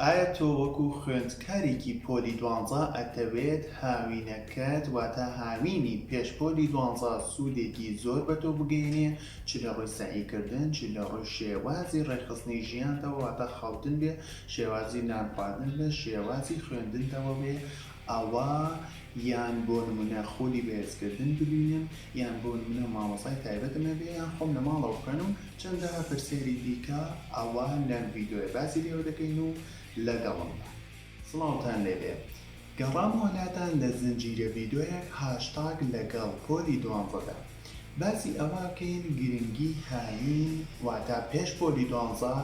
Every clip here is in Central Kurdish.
ئایا تۆ وەکو خوێندکارێکی پۆلی دوانزە ئەتەوێت هاوینەکەت واتە هاوینی پێش پۆلی دوانزە سودێکی زۆر بەتۆ بگەیەنێ چ لە ڕووی سەعی کردن چ لە ڕووی شێوازی ڕێکخستنی ژیانتەوە واتە خەوتن بێ شێوازی نان خواردن بێ شێوازی خوێندنتەوە بێ ئەوا یان بۆ نمونە خولی بەهێز کردن ببینم یان بۆ نمونە مامۆستای تایبەتم هەبێ یان خۆم لە ماڵەوە بخوێنم چەندە پرسیاری دیکە ئەوا لەم ڤیدۆیە باسی لێوە دەکەین و لەگەڵم بە. سڵاوتان لێبێ گەڕامەوە لاتان لە زنجیرە ڤیدۆیەک هاشتاگ لەگەڵ پۆلی دوانزەدا باسی ئەوەکەین گرنگی هاوین واتا پێش پۆلی دوانزە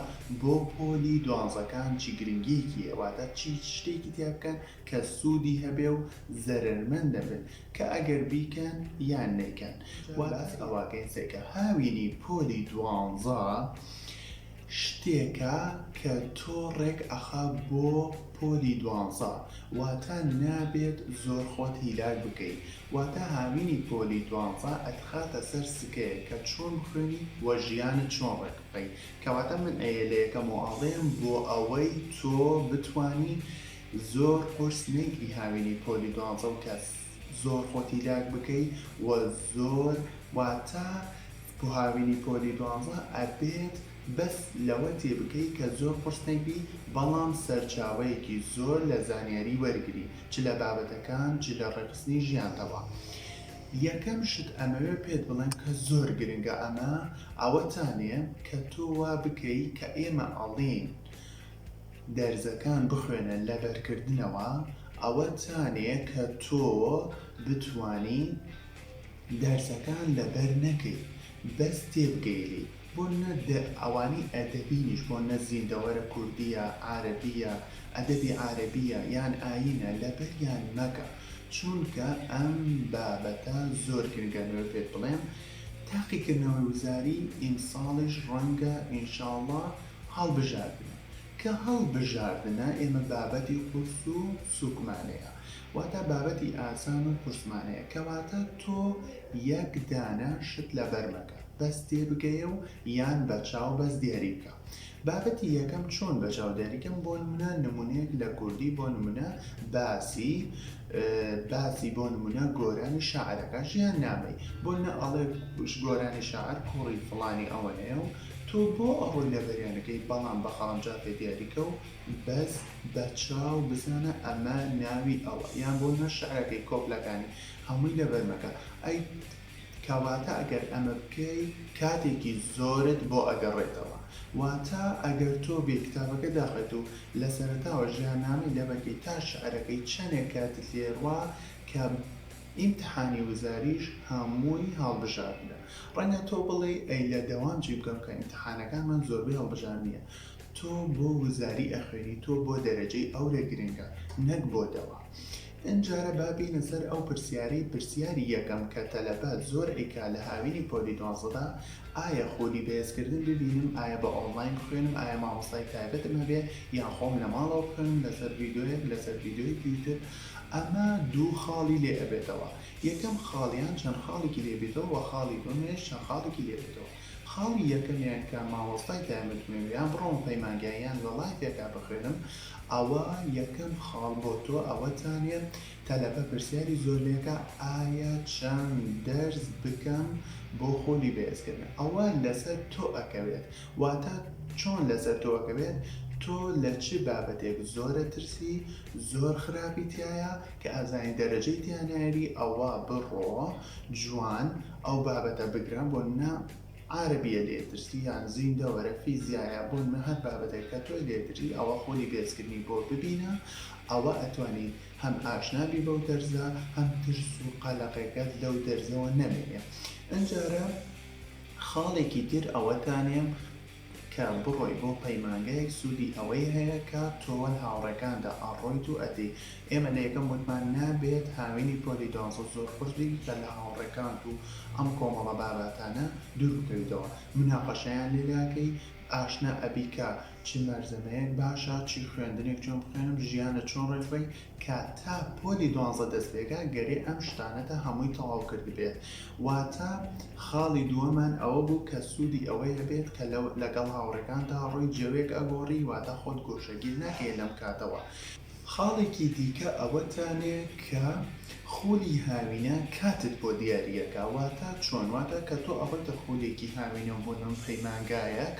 بۆ پۆلی دوانزەکان چی گرنگیەکی هەیە واتا چی شتێکی تیا بکەن کە سودی هەبێ و زەرەرمەند نەبن کە ئەگەر بیکەن یان نەیکەن وە باس ئەوەکەین سەیکە هاوینی پۆلی دوانزە شتێکە کە تۆ ڕێک ئەخا بۆ پۆلی دوانزە واتا نابێت زۆر خۆت هیلاک بکەی واتە هاوینی پۆلی دوانزە ئەتخاتە سەر سکەیەک کە چۆن بخوێنی و ژیانت چۆن ڕێک بخەی کەواتە من ئەیێ لە یەکەم و ئەڵێم بۆ ئەوەی تۆ بتوانی زۆر قورس نەیگری هاوینی پۆلی دوانزە و کە زۆر خۆتی لاک بکەی و زۆر واتە بۆ هاوینی پۆلی دوانزە ئەبێت بەس لەوە تێبگەی کە زۆر قورس نەیبی بەڵام سەرچاوەیەکی زۆر لە زانیاری وەرگری چ لە بابەتەکان چ لە ڕێکخستنی ژیانتەوە یەکەم شت ئەمەوێ پێت بڵێم کە زۆر گرنگە ئەمە ئەوەتانێ کە تۆ وا بکەی کە ئێمە ئەڵێین دەرزەکان بخوێنە لە بەرکردنەوە ئەوەتانێ کە تۆ بتوانی دەرسەکان لەبەر نەکەی بەس تێبگەیلی بۆ نە دە ئەوانی ئەدەبینیش بۆ نە زیندەوەرە کوردیە عارەبیە ئەدەبی عارەبیە یان ئاینە لەبەریان مەکە چونکە ئەم بابەتە زۆر گرنگە لەوێ پێت بڵێم تاقیکردنەوەی وزاری ئیمساڵیش ڕەنگە ئینشاڵا هەڵبژاردنە کە هەڵبژاردنە ئێمە بابەتی قورس و سوکمانەیە واتا بابەتی ئاسان و قورسمانەیە کەواتە تۆ یەک دانە شت لەبەر مەکە بەس تێبگەیە و یان بەچاو بەس دیاری بکە بابەتی یەکەم چۆن بەچاو دیاری کەم بۆ نمونە نمونەیەک لە کوردی بۆ نمونە باسی باسی بۆ نمونە گۆرانی شاعرەکە ژیان نامەی بۆ نمونە ئەڵێ گۆرانی شاعر کوڕی فڵانی ئەوەنەیە و تۆ بۆ ئەڕۆی لەبەریانەکەی بەڵام بەخەڵم جا تێ دیاری کە و بەس بە چاو بزانە ئەمە ناوی ئەوە یان بۆ نە شعرەکەی کۆپلەکانی هەمووی لەبەر مەکە ئەی کەواتە ئەگەر ئەمە بکەی کاتێکی زۆرت بۆ ئەگەڕێتەوە واتە ئەگەر تۆ بێی کتابەکە داخەیت و لە سەرەتاوە ژیاننامەی لەبەرکەی تا شعرەکەی چەنێک کاتت لێ ڕوا کە ئیمتحانی وزاریش هەمووی هەڵبژاردنە ڕەنگە تۆ بڵێی ئەی لە دەوام چی بکەم کە ئیمتحانەکانمان زۆربەی هەڵبژاردنیە تۆ بۆ وزاری ئەخوێنی تۆ بۆ دەرەجەی ئەورە گرنگە نەک بۆ دەوا ئنجارە با بینە سەر ئەو پرسیارەی پرسیاری یەکەم کە تەلەبە زۆر ئەیکا لە هاوینی پۆلی دوانزەدا ئایا خولی بەێز کردن ببینم ئایا بە ئۆنڵاین بخوێنم ئایا مامۆستای تایبەتم هەبێ یان خۆم لە ماڵەوە بخوێنم لە سەر ڤیدۆیەک لە سەر ڤیدۆیەکی یوتب ئەمە دوو خاڵی لێ ئەبێتەوە یەکەم خاڵیان چەند خاڵیکی لێ بیتەوە وە خاڵی دوەمیش چەند خاڵیکی لێ بێتەوە خاڵی یەکەمیان کە مامۆستای تایبەتمەوێ یان بڕۆمە پەیمانگا یان لە ڵایڤێکا بخوێنم ئەوە یەکەم خاڵ بۆ تۆ ئەوەتانێ تەلەبە پرسیاری زۆر لێکا ئایا چەند دەرس بکەم بۆ خۆلی بەێزکردنە ئەوە لەسەر تۆ ئەکەوێت واتا چۆن لەسەر تۆ ئەکەوێت تۆ لە چ بابەتێک زۆرە ترسی زۆر خراپی تیایە کە ئەزانی دەرەجەی تیا نایری ئەوە بڕۆ جوان ئەو بابەتە بگرە بۆ نمونە عارەبیە لێ ترسی یان زیندە وەرە فیزیایە بۆ نمونە هەر بابەتێک کە تۆی لێ دژی ئەوە خۆلی بێزکردنی بۆ ببینە ئەوە ئەتوانی هەم ئاشنا بی بەو دەرزە هەم ترس و قەلەقێکەت لەو دەرزەوە نەمێنێ ئەنجارە خاڵێکی تر ئەوەتانێم کە بڕۆی بۆ پەیمانگایەک سوودی ئەوەی هەیە کە تۆ وەل هاوڕێکاندا ئەڕۆیت و ئەدەی ئێمە لە یەکەم وتمان نابێت هاوینی پۆلی دوازدە زۆر خۆش بێی کە لە هاوڕێکانت و ئەم کۆمەڵە باباتانە دوور بکەویتەوە مناقەشەیان لێلاکەی ئاشنا ئەبی کە چ مەرزەمەیەک باشە چی خوێندنێک چۆن بخوێنم ژیانت چۆن ڕێکخەی کە تا پۆلی دوانزە دەست پێکا گەرێ ئەم شتانەتە هەمووی تەواو کردبێت واتە خاڵی دووەمان ئەوە بوو کە سوودی ئەوەی هەبێت کە لە لەگەڵ هاوڕێکانتا ڕووی جەوێک ئەگۆڕی واتە خۆت گۆشەگیر ناکەیە لەم کاتەوە. خاڵێکی دیکە ئەوەتانێ کە خولی هاوینە کاتت بۆ دیاریەکا واتە چۆن واتە کە تۆ ئەڕۆیتە خولێکی هاوینە بۆ نۆن پەیمانگایەک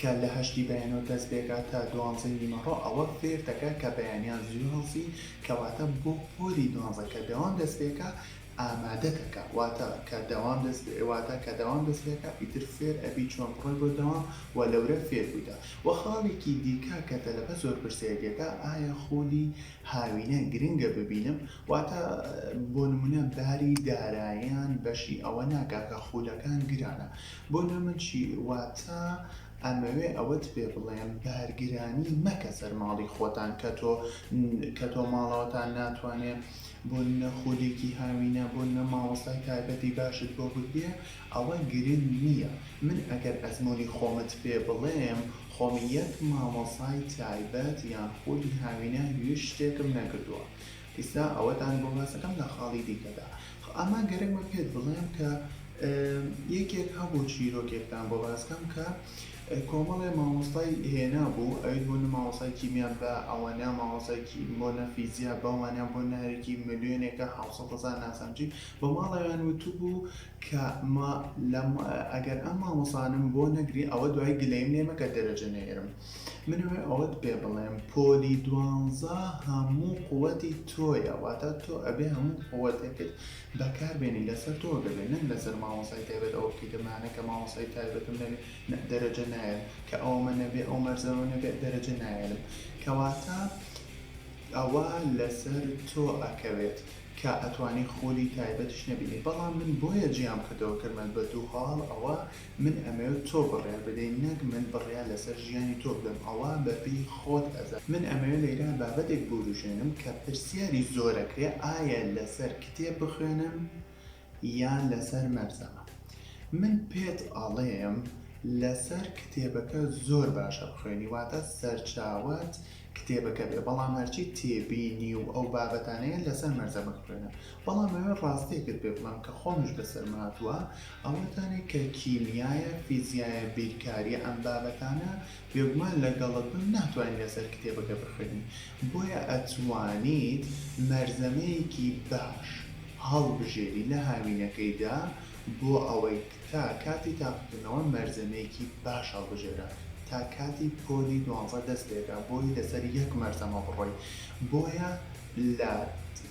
کە لە هەشتی بەیانەوە دەست بێگا تا دوانزەی نیمەڕۆ ئەوە فێر دەکا کە بەیانیان زوو هەڵسی کەواتە بۆ پۆلی دوانزە کە دەوام دەست بێکا ئامادە دەکا واتە کە دەوام دەست واتە کە دەوام دەست بێکا ئیتر فێر ئەبی چۆن بڕۆی بۆ دەوام وە لەورە فێر بویتە وە خاڵێکی دیکە کە تەلەبە زۆر پرسیاری لێکا ئایا خولی هاوینە گرنگە ببینم واتە بۆ نمونە باری دارایان بەشی ئەوە ناکا کە خولەکان گرانە بۆ نا من چی واتا ئەمەوێ ئەوەت پێ بڵێم بارگرانی مەکە سەر ماڵی خۆتان کەتۆ کەتۆ ماڵەوەتان ناتوانێ بۆ نە خولێکی هاوینە بۆ نە مامۆستای تایبەتی باشت بۆ بکرێ ئەوە گرنگ نیە من ئەگەر ئەزمونی خۆمت پێ بڵێم خۆم یەک مامۆسای تایبەت یان خولی هاوینە هویش شتێکم نەکردوە ئیستا ئەوەتان بۆ باسەکەم لە خاڵی دیکەدا ئەما گەرەک بە پێت بڵێم کە یەکێک هەبوو چیرۆکێکتان بۆ باسکەم کە کۆمەڵێ مامۆستای هێنا بوو ئەویت بۆ نە مامۆسای کیمیان بە ئەوەنە مامۆسایکی بۆ نە فیزیا بەوانە بۆ نارێکی ملیۆنێکە حوسەتەزان ناسانجی بە ماڵەوەیان وتبوو کە مە لەم ئەگەر ئەم مامۆسانەم بۆ نەگری ئەوە دوای گلەیم لێ مەکە دەرەجە نەیەرم من ئەوێ ئەوەت پێ بڵێم پۆلی دوانزە هەموو قوەتی تۆیە واتا تۆ ئەبێ هەموو قوەتێکت بەکار بێنی لەسەر تۆ دەبێ نەک لەسەر مامۆسای تایبەت ئەوە بکەیتە مانە کە مامۆسای تایبەتم نەبێ نە دەرەجە نایەرم کە ئەوەمە نەبێ ئەو مەرزەمە نەبێ دەرەجە نایەرم کەواتە ئەوە لەسەر تۆ ئەکەوێت کە ئەتوانی خولی تایبەتیش نەبینی بەڵام من بۆیە جیام کردەوە کرمەل بە دوو هەاڵ ئەوە من ئەمەوێت تۆ بڕیار بدەی نەک من بڕیار لەسەر ژیانی تۆ بدەم ئەوە بە پێی خۆت ئەزانی من ئەمەوێت لە ئیران بابەتێک بوروژێنم کە پرسیاری زۆر ئەکرێ ئایا لەسەر کتێب بخوێنم یان لەسەر مەرزەمە من پێت ئەڵێم لەسەر کتێبەکە زۆر باشە بخوێنی واتە سەرچاوەت کتێبەکە بێ بەڵام هەرچی تێبینی و ئەو بابەتانەیە لەسەر مەرزەمە بخوێنە بەڵام ئەوێ ڕاستیەکت پێ بڵێم کە خۆمیش بەسەرم هاتووە ئەوە تانێ کە کیمیایە فیزیایە بیرکاریە ئەم بابەتانە بێگومان لەگەڵت بم ناتوانین لەسەر کتێبەکە بخوێنی بۆیە ئەتوانیت مەرزەمەیەکی باش هەڵبژێری لە هاوینەکەیدا بۆ ئەوەی تا کاتی تاقیکردنەوە مەرزەمەیەکی باش هەڵبژێرە تا کاتی پۆلی دوانزە دەست پێکە بۆی لەسەر یەک مەرزەمە بڕۆی بۆیە لە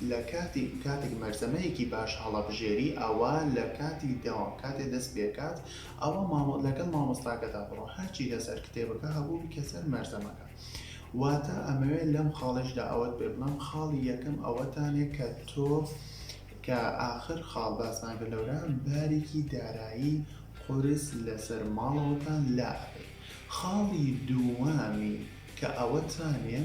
لە کاتی کاتێک مەرزەمەیەکی باش هەڵەبژێری ئەوا لە کاتی دەوام کاتێ دەست پێکات ئەوا مامۆ لەگەڵ مامۆستاکەدا بڕۆ هەرچی لەسەر کتێبەکە هەبوو بیکە سەر مەرزەمەکە. واتا ئەمەوێ لەم خاڵەیشدا ئەوەت پێ بڵێم خاڵی یەکەم ئەوەتانێ کە تۆ کە ئاخر خاڵ باسمان کرد لەورا بارێکی دارایی قورس لەسەر ماڵەوەتان لا ئەبێ خاڵی دووەمی کە ئەوەتانێ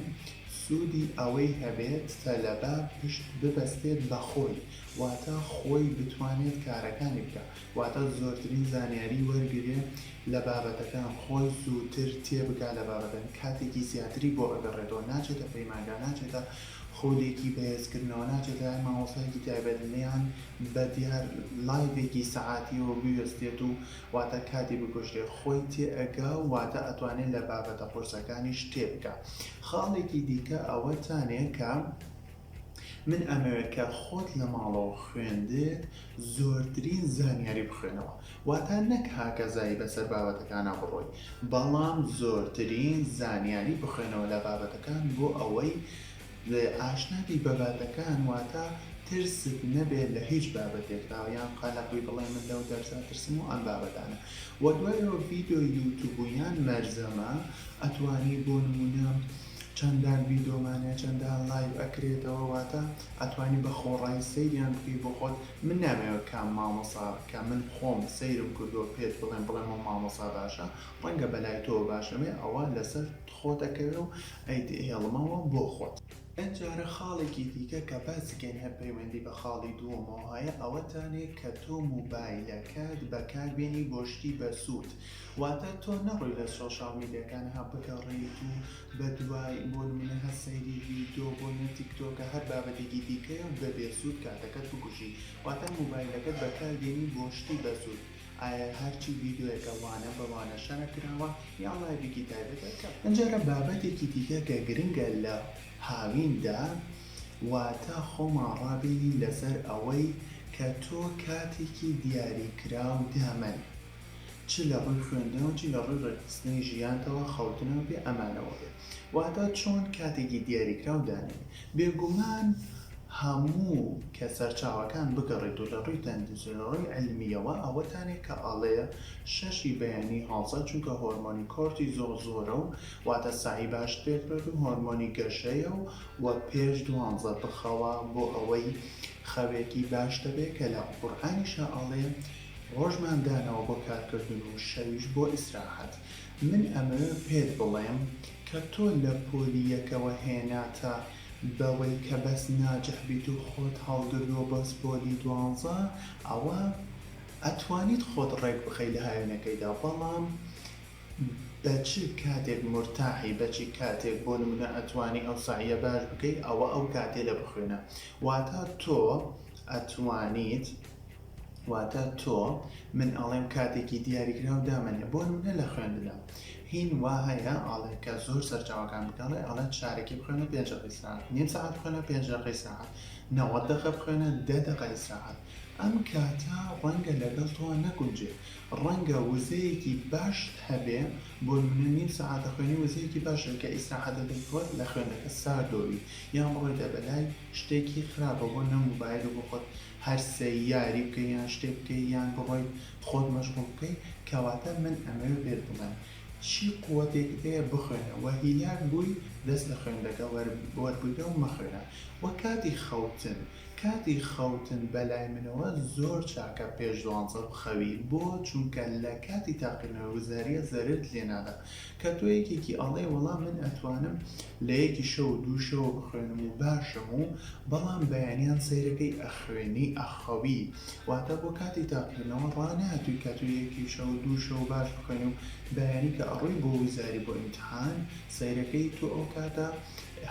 سودی ئەوەی هەبێت تەلەبە پشت ببەستێت بە خۆی واتا خۆی بتوانێت کارەکانی بکا واتە زۆرترین زانیاری وەرگرێ لە بابەتەکان خۆی زووتر تێبگا لە بابەتەکان کاتێکی زیاتری بۆ ئەگەڕێتەوە ناچێتە پەیمانگا ناچێتە خولێکی بەهێزکردنەوە ناچێتە لای مامۆستایەکی تایبەت نەیان بە دیار لایڤێکی سەعاتیەوە بوێستێت و واتە کاتی بکوژرێ خۆی تێئەگا و واتە ئەتوانێ لە بابەتە قورسەکانیش تێبگا خاڵێکی دیکە ئەوەتانێ کە من ئەمەوێت کە خۆت لە ماڵەوە خوێندت زۆرترین زانیاری بخوێنەوە واتا نەک هاکەزایی بەسەر بابەتەکانا بڕۆی بەڵام زۆرترین زانیاری بخوێنەوە لە بابەتەکان بۆ ئەوەی ئاشنا بی بە باتەکان واتا ترست نەبێت لە هیچ بابەتێکدا یان قەلەق بی بڵێ من لەو دەرسە ئەترسم و ئەم بابەتانە وە دوای ئەوە ڤیدۆی یوتوب و یان مەرزەمە ئەتوانی بۆ نمونە چەندان ڤیدۆمان هەیە چەندان لایڤ ئەکرێتەوە واتە ئەتوانی بە خۆڕایی سەیریان بکەی بۆ خۆت من نامەوێ کام مامۆسا کە من خۆم سەیرم کردوە پێت بڵێم بڵێم ئەو مامۆسا باشە ڕەنگە بەلای تۆ باش نەبێ ئەوە لەسەر خۆت ئەکەوێ و ئەیت هێڵمەوە بۆ خۆت. ئەمجارە خاڵێکی دیکە کە باسی کەین هەر پەیوەندی بە خاڵی دووەمەوە هەیە ئەوەتانێ کە تۆ موبایلەکەت بەکار بێنی بۆ شتی بەسوود واتە تۆ نەڕۆی لە سۆشیال میدیاکان ها بگەڕێیت و بە دوای بۆ نمونە هەر سەیری ڤیدۆ بۆ نە تیکتۆکە هەر بابەتێکی دیکەیە و دەبێ زووت کاتەکەت بکوژی واتە موبایلەکەت بەکار دێنی بۆ شتی بە زووت ئایا هەرچی ڤیدۆیەکە وانە بە وانە شەرح کراوە یان ڵایڤیکی تایبەتە کە ئەمجارە بابەتێکی دیکە کە گرنگە لە هاوین دا واتە خۆمان ڕابینین لەسەر ئەوەی کە تۆ کاتێکی دیاری کراو دامەن چ لە ڕووی خوێندن و چ لە ڕووی ڕێکخستنی ژیانتەوە خەوتنە و بێ ئەمانەوە بێت، واتە چۆن کاتێکی دیاریکراو دانێن. بێگومان هەموو کە سەرچاوەکان بگەڕیت و لە ڕووی تەندروستی و لە ڕووی عیلمییەوە ئەوەتانێ کە ئەڵێ شەش ی بەیانی هەڵسە چونکە هۆرمۆنی کۆرتیزۆڵ زۆرە و واتە سەعی باشت پێ بکات و هۆرمۆنی گەشەیە و وە پێش دوانزە بخەوە بۆ ئەوەی خەوێکی باشتە بێ کە لە قورئانیشە ئەڵێ ڕۆژمان دانەوە بۆ کارکردن و شەویش بۆ ئیسراحەت، من ئەمەوێ پێت بڵێم کە تۆ لە پۆلی یەکەوە هێناتە بەوەی کە بەس ناجح بیت و خۆت هەڵگردووە بۆ پۆلی دوانزە ئەوا ئەتوانیت خۆت ڕێک بخەی لە هاوینەکەیدا بەڵام بە چ کاتێک مورتاحی بە چ کاتێک بۆ نمونە ئەتوانی ئەو سەعیە باش بکەی ئەوە ئەو کاتەیە بخوێنە واتا تۆ ئەتوانیت واتە تۆ، من ئەڵێم کاتێکی دیاریکراو دامەنێ، بۆنمونە لە خوێندنا، هین وا هەیە ئەڵێ کە زۆر سەرچاوەکان بگەڕێ ئەڵێ چارەکی بخوێنە پێنج دەقە ئیسراحەت، نیم سەعات بخوێنە پێنج دەقە ئیسراحەت، نەوەد دەقە بخوێنە دە دەقە ئیسراحەت، ئەم کاتە ڕەنگە لەگەڵ تۆوە نەگونجێ، ڕەنگە وزەیەکی باشت هەبێ، بۆنمونە نیم سەعات دەخوێنی وزەیەکی باشە کە ئیسراحەتت دەکەوێ لە خوێندنەکە ساردۆ بی، یان بڕۆیتە بەلای شتێکی خراپە بۆ نمو مۆبایل و بۆ خۆت هەر سێ یاری بکەی یان شتێک بکەی یان بڕۆی خۆت مەشغوڵ بکەی کەواتە من ئەمەوێ پێت بڵێم چی قوەتێکت هەیە بخوێنە وە هیلاک بووی دەست لە خوێندەکە وەربگرە و مەخوێنە وە کاتی خەوتن کاتی خەوتن بەلای منەوە زۆر چاکە پێش دوانزە بخەوی بۆ چونکە لە کاتی تاقیکردنەوەی وزاریە زەررت لێ نادا کە تۆ یەکێکی ئەڵێی وەڵا من ئەتوانم لە یەکی شەو دوو شەوە بخوێنم و باشم و بەڵام بەیانیان سەیرەکەی ئەخوێنی ئەخەوی واتا بۆ کاتی تاقیکردنەوە ڕاناتووی کە تۆ یەکی شەو دوو شەو باش بخوێنی و بەیانی کە ئەڕۆی بۆ وزاری بۆ ئیمتحان سەیرەکەی تۆ ئەو کاتە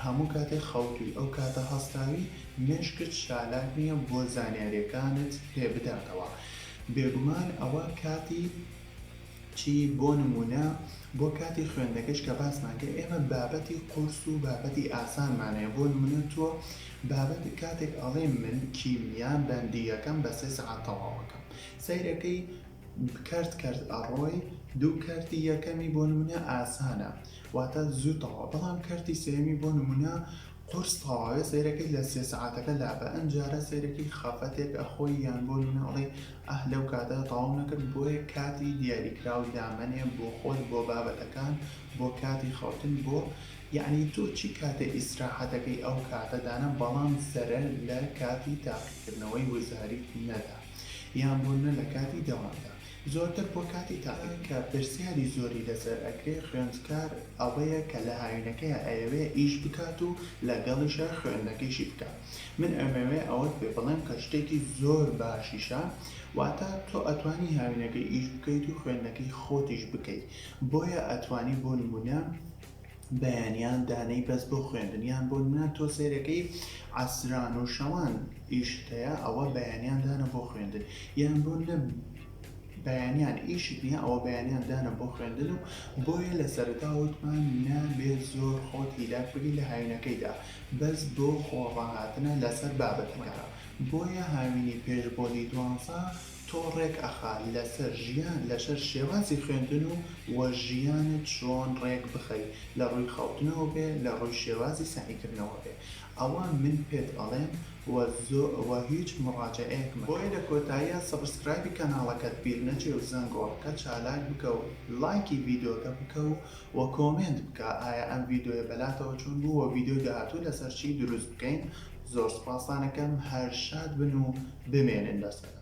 هەموو کاتێ خەوتووی ئەو کاتە هەستاوی مێشکت چالاک نیە بۆ زانیاریەکانت پێ بداتەوە بێگومان ئەوە کاتی چی بۆ نموونە بۆ کاتی خوێندنەکەیش کە باسمان کرد ئێمە بابەتی قورس و بابەتی ئاسانمان هەیە بۆ نموونە تۆ بابەت کاتێک ئەڵێی من کیمیا بەندی یەکەم بە سێ سەعات تەواوەکەم سەیرەکەی کەرت کەرت ئەڕۆی دوو کەرتی یەکەمی بۆ نموونە ئاسانە واتە زوو تەواو بەڵام کەرتی سێیەمی بۆ نموونە قورس تەواوێ سەیرەکەی لە سێ سەعاتەکە لابە ئەمجارە سەیرەکەی خەفەتێک ئەخۆی یان بۆ نمونە ئەڵێی ئاه لەو کاتە تەواو نەکرد بۆیە کاتی دیاریکراو دامەنێ بۆ خۆت بۆ بابەتەکان بۆ کاتی خەوتن بۆ یەعنی تۆ چی کاتێ ئیسراحەتەکەی ئەو کاتە دانە بەڵام زەرە لە کاتی تاقیکردنەوەی وزاریت نەدا یان بۆ نە لە کاتی دەوامدا. زۆرتر بۆ کاتی تاقی کە پرسیاری زۆری لەسەر ئەکرێ خوێندکار ئەوەیە کە لە هاوینەکەیا ئەیەوێ ئیش بکات و لە گەڵیشا خوێندنەکەیشی بکا من ئەمەوێ ئەوەت پێ بڵێم کە شتێکی زۆر باشیشە واتا تۆ ئەتوانی هاوینەکەی ئیش بکەیت و خوێندنەکەی خۆتیش بکەی بۆیە ئەتوانی بۆ نمونە بەیانیان دانێی بەس بۆ خوێندن یان بۆ نمیان تۆ سەیرەکەی عەسران و شەوان ئیشت هەیە ئەوە بەیانیان دانە بۆ خوێندن یان بۆ نە بەیانیان ئیشت نیە ئەوە بەیانیان دانە بۆ خوێندن و بۆیە لە سەرەتا وتمان نابێ زۆر خۆت هیلاک بگی لە هاوینەکەیدا بەس بۆ خۆ ڕاهاتنە لەسەر بابەتەکە بۆیە هاوینی پێش بۆلی دوانزە تۆ ڕێک ئەخا لەسەر ژیان لەشەر شێوازی خوێندن و وە ژیانت چۆن ڕێک بخەی لە ڕووی خەوتنەوە بێ لە ڕووی شێوازی سەعیکردنەوە بێ ئەوە من پێت ئەڵێم وە زۆ وە هیچ مڕاجەعەیەک مەکە. بۆیە لە کۆتاییا سەبسکرایبی کەناڵەکەت بیر نەچێ و زەنگۆڵەکە چالاک بکە و لایکی ڤیدۆکە بکە و وە کۆمێنت بکە ئایا ئەم ڤیدۆیە بەلاتەوە چۆن بوو وە ڤیدۆی داهاتوو لەسەر چی دروست بکەین زۆر سوپاستان ئەکەم هەر شاد بن و بمێنن لەسەدا.